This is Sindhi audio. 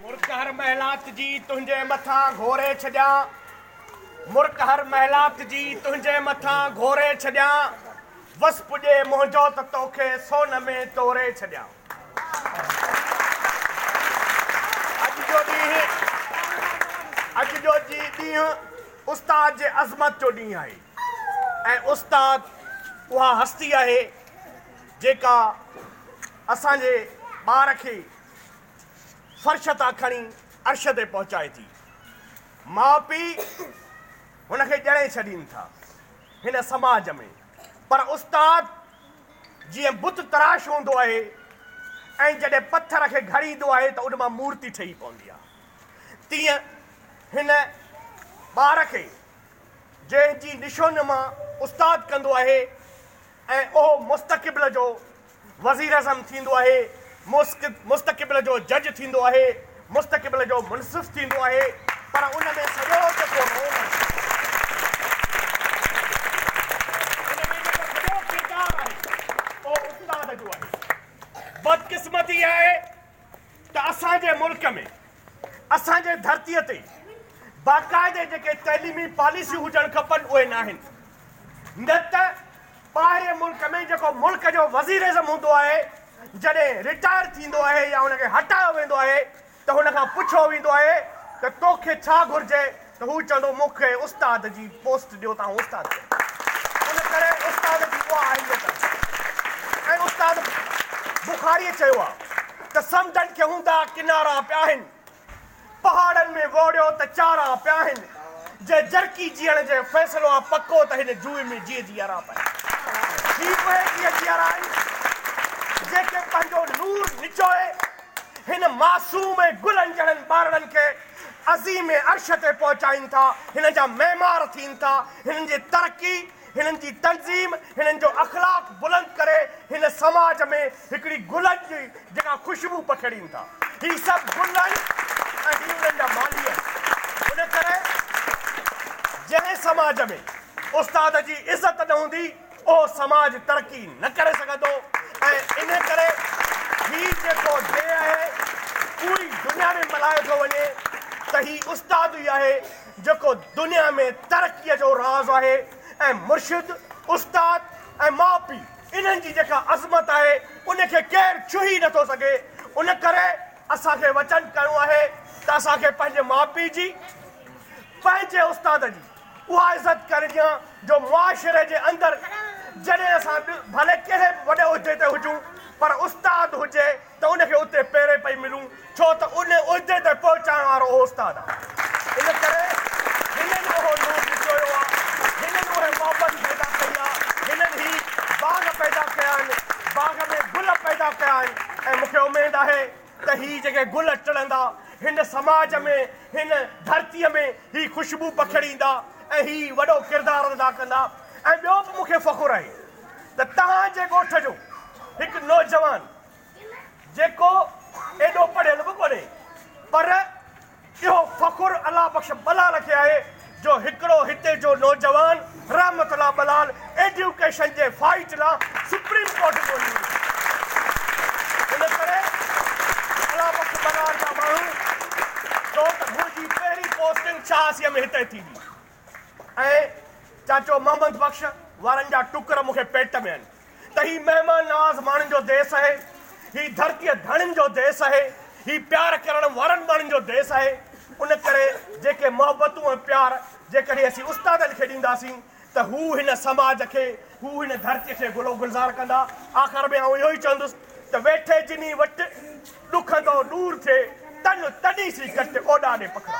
مرڪ هر محلات جي تنهنجي مٿان گهوري ڇڏيان مرڪ هر محلات جي تنهنجي مٿان گهوري ڇڏيان وس پڄي منهنجو ته توکي سون ۾ توري ڇڏيان اڄ جو ڏينهن اڄ جو جي ڏينهن استاد جي عظمت جو ڏينهن آهي ۽ استاد اها هستي آهي جيڪا اسان جي ٻار کي فرش تان کڻي عرش تي پهچائي ٿي. ماء پيء هن کي ڄڻي ڇڏين ٿا هن سماج ۾ پر استاد جيئن بت تراش هوندو آهي ۽ جڏهن پٿر کي گهڙيندو آهي ته ان مان مورتي ٺهي پوندي آهي تيئن هن ٻار کي جنهن جي نشوونما استاد ڪندو آهي ۽ اهو مستقبل جو وزيراعظم ٿيندو آهي، مستقبل جو جج ٿيندو آهي، مستقبل جو منصف ٿيندو آهي، پر ان ۾ سڄو ته ڪو رول آهي، ان ۾ جيڪو سڄو ڪردار آهي، اهو استاد جو آهي. بدقسمتي اها آهي ته اسان جي ملڪ ۾ اسان جي ڌرتي تي باقاعدي جيڪي تعليمي پاليسيون هجڻ کپن اهي ناهن نه ته ٻاهرين ملڪ ۾ جيڪو ملڪ جو وزيراعظم هوندو آهي جڏهن رٽائر ٿيندو آهي يا ان کي هٽايو ويندو آهي ته هن کان پڇيو ويندو آهي ته توکي ڇا گهرجي ته هو چوندو مون کي استاد جي پوسٽ ڏيو ته آئون استاد ٿيندس. ان ڪري استاد جي اها اهميت آهي ۽ استاد بخاريء چيو آهي ته سمنڊن کي هوندا ڪنارا پيا آهن، پهاڙن ۾ ووڙيو ته چارا پيا آهن، جي جرڪي جيئڻ جي فيصلو آ پڪو ته هن جوئي ۾ جيئي جيئرا پيا آهن. هي اهي جيئي جيئرا آهن، جيڪي پنهنجو نور نچوئي هن معصوم ۽ گلن جهڙن ٻارڙن کي عظيم عرش تي پهچائين ٿا، هنن جا معمار ٿين ٿا، هنن جي ترقي، هنن جي تنظيم، هنن جو اخلاق بلند ڪري هن سماج ۾ هڪڙي گلن جي جيڪا خوشبو پکيڙين ٿا. هي سڀ گل آهن ۽ هي انهن جا مالهي آهن. ان ڪري جنهن سماج ۾ استاد جي عزت نه هوندي، اهو سماج ترقي نه ڪري سگهندو ۽ انهي ڪري هي جيڪو ڊي آهي اهو ئي دنيا ۾ ملهايو ٿو وڃي ته هي استاد ئي آهي جيڪو دنيا ۾ ترقي جو راز آهي ۽ مرشد، استاد ۽ ماء پي انهن جي جيڪا عظمت آهي ان کي ڪير ڇهي نه ٿو سگهي ان ڪري اسان کي وچن ڪرڻو آهي ته اسان کي پنهنجي ماء پي جي، پنهنجي استاد جي. اها عزت ڪرجان جو معاشري جي اندر جڏهن اسان ڀلي ڪهڙي به وڏي عهدي تي هجون پر استاد هجي ته ان کي اتي پيري پئي ملون ڇو ته ان عهدي تي پهچائڻ وارو اهو استاد آهي ان ڪري هنن اهو نور لڪويو آهي هنن اهي محبت پيدا ڪئي آهي هنن هي باغ پيدا ڪيا آهن باغ ۾ گل پيدا ڪيا آهن ۽ مون کي اميد آهي ته هي جيڪي گل ٽڙندا، هن سماج ۾، هن ڌرتيء ۾ هي خوشبو پکيڙيندا ۽ هي وڏو ڪردار ادا ڪندا ۽ ٻيو به مون کي فخر آهي ته توهان جي ڳوٺ جو هڪ نوجوان جيڪو ايڏو پڙهيل به ڪونهي پر اهو فخر الله بخش بلال کي آهي جو هڪڙو هتي جو نوجوان رحمت الله بلال ايڊيوڪيشن جي فائيٽ لا سپريم ڪورٽ ڳولي ويو. ان ڪري الله بخش بلال جا ماڻهو چئو ته منهنجي پهرين پوسٽنگ شاهاسيء ۾ هتي ٿيندي ۽ چاچو محمد بخش وارن جا ٽڪر مون کي پيٽ ۾ آهن. ته هي مهمان نواز ماڻهن جو ديس آهي، هي ڌرتيء ڌڻين جو ديس آهي، هي پيار ڪرڻ وارن ماڻهن جو ديس آهي، ان ڪري جيڪي محبتون ۽ پيار جيڪڏهن اسين استادن کي ڏينداسين ته هو هن سماج کي، هو هن ڌرتيء کي گل و گلزار ڪندا. آخر ۾ آئون اهو ئي چوندس ته ويٺي جني وٽ، ڏکندو ڏور ٿئي تن، تڏهين سي ڪٽ اوڏاڏي پکڙا.